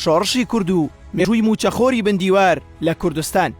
شۆڕشی کورد و مێژووی مووچەخۆری بن دیوار لە کوردستان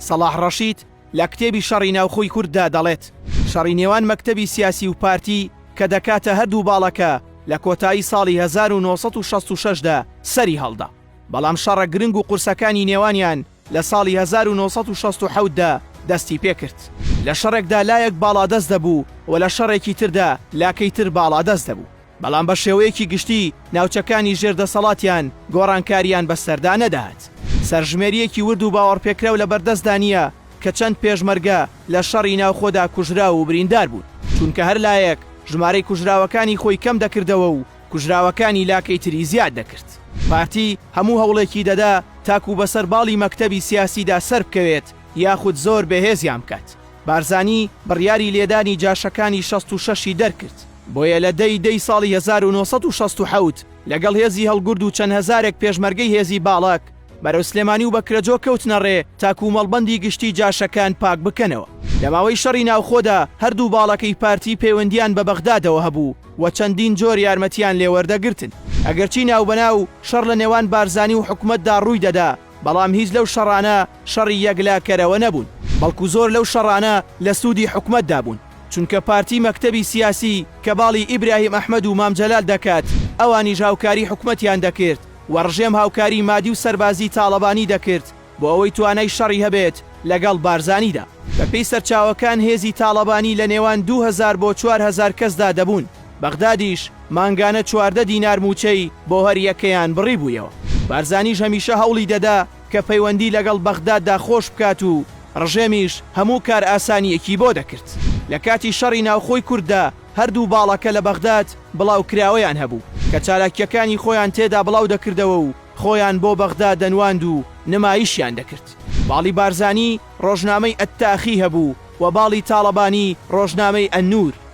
سەڵاح ڕەشید لە کتێبی شەڕی ناوخۆی کورددا دەڵێت، شەڕی نێوان مەکتەبی سیاسی و پارتی کە دەکاتە هەردوو باڵەکە لە کۆتایی ساڵی هەزار و نۆ سەد و شەست و شەش دا سەری هەڵدا، بەڵام شەڕە گرنگ و قورسەکانی نێوانیان لە ساڵی هەزار و نۆ سەد و شەست و حەوت دا دەستی پێ کرد. لە شەڕێکدا لایەک باڵادەست دەبوو و لە شەڕێکی تردا لاکەی تر باڵادەست دەبوو. بەڵام بە شێوەیەکی گشتی ناوچەکانی ژێر دەسەڵاتیان گۆڕانکارییان بەسەردا نەدات. سەرژمێرییەکی ورد و باوەڕپێکراو لەبەردەستدا نییە کە چەند پێشمەرگە لە شەڕی ناوخۆدا کوژراو و بریندار بوون، چونکە هەر لایەک ژمارەی کوژراوەکانی خۆی کەم دەکردەوە و کوژراوەکانی لاکەی تری زیاد دەکرد. پارتی هەموو هەوڵێکی دەدا تاکوو بەسەر باڵی مەکتەبی سیاسیدا سەربکەوێت یاخود زۆر بەهێزیان بکات. بارزانی بڕیاری لێدانی جاشەکانی شەست و شەش ی دەرکرد. بۆیە لە دە ی دە ی ساڵی هەزار و نۆ سەد و شەست و حەوت لەگەڵ هێزی هەڵگورد و چەند هەزارێک پێشمەرگەی هێزی باڵەک بەرەو سلێمانی و بەکرەجۆ کەوتنە ڕێ تاکوو مەڵبەندی گشتی جاشەکان پاک بکەنەوە. لە ماوەی شەڕی ناوخۆدا هەردوو باڵەکەی پارتی پەیوەندییان بە بەغدادەوە هەبوو و چەندین جۆر یارمەتییان لێ وەردەگرتن. ئەگەرچی ناوبەناو شەڕ لە نێوان بارزانی و حکومەتدا ڕووی دەدا، بەڵام هیچ لەو شەڕانە شەڕی یەکلاکەرەوە نەبوون، بەڵکو زۆر لەو شەڕانە لە سوودی حکومەتدا بوون، چونکە پارتی مەکتەبی سیاسی کە باڵی ئیبراهیم ئەحمەد و مام جەلال دەکات، ئەوانیش هاوکاری حکومەتیان دەکرد و ڕژێم هاوکاری مادی و سەربازی تاڵەبانی دەکرد بۆ ئەوەی توانای شەڕی هەبێت لەگەڵ بارزانیدا. بەپێی سەرچاوەکان هێزی تاڵەبانی لە نێوان دوو هەزار بۆ چوار هەزار کەسدا دەبوون، بەغدادیش مانگانە چواردە دینار مووچەی بۆ هەر یەکەیان بڕیبوویەوە. بارزانیش هەمیشە هەوڵی دەدا کە پەیوەندی لەگەڵ بەغداددا خۆش بکات و ڕژێمیش هەموو کارئاسانییەکی بۆ دەکرد. لە کاتی شەڕی ناوخۆی کورددا هەردوو باڵەکە لە بەغداد بڵاوکراوەیان هەبوو کە چالاکییەکانی خۆیان تێدا بڵاو دەکردەوە و خۆیان بۆ بەغدا دەنواند و نمایشیان دەکرد. باڵی بارزانی ڕۆژنامەی ئەتاخی هەبوو و باڵی تاڵەبانی ڕۆژنامەی ئەننور.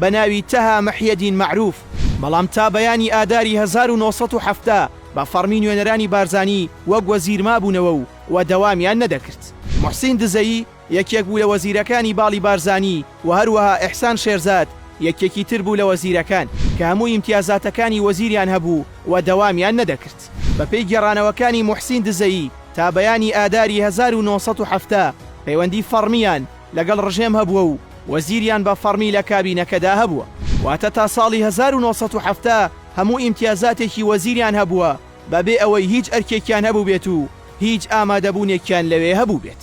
بە ناوی تەها مەحیەدین مەعروف، بەڵام تا بەیانی ئاداری هەزار و نۆ سەد و حەفتا بە فەڕمی نوێنەرانی بارزانی وەک وەزیر مابوونەوە و و دەوامیان نەدەکرد. موحسین دزەیی یەکێک بوو لە وەزیرەکانی باڵی بارزانی و هەروەها ئیحسان شێرزاد یەکێکی تر بوو لە وەزیرەکان کە هەموو ئیمتیازاتەکانی وەزیریان هەبوو و دەوامیان نەدەکرد. بە پێی گێڕانەوەکانی موحسین دزەیی تا بەیانی ئاداری هەزار و نۆ سەد و حەفتا پەیوەندی فەڕمییان لەگەڵ ڕژێم هەبووە و وەزیریان بە فەڕمی لە کابینەکەدا هەبووە. واتە تا ساڵی هەزار و نۆ سەد و حەفتا هەموو ئیمتیازاتێکی وەزیریان هەبووە بە بێ ئەوەی هیچ ئەرکێکیان هەبووبێت و هیچ ئامادەبوونێکیان لەوێ هەبووبێت.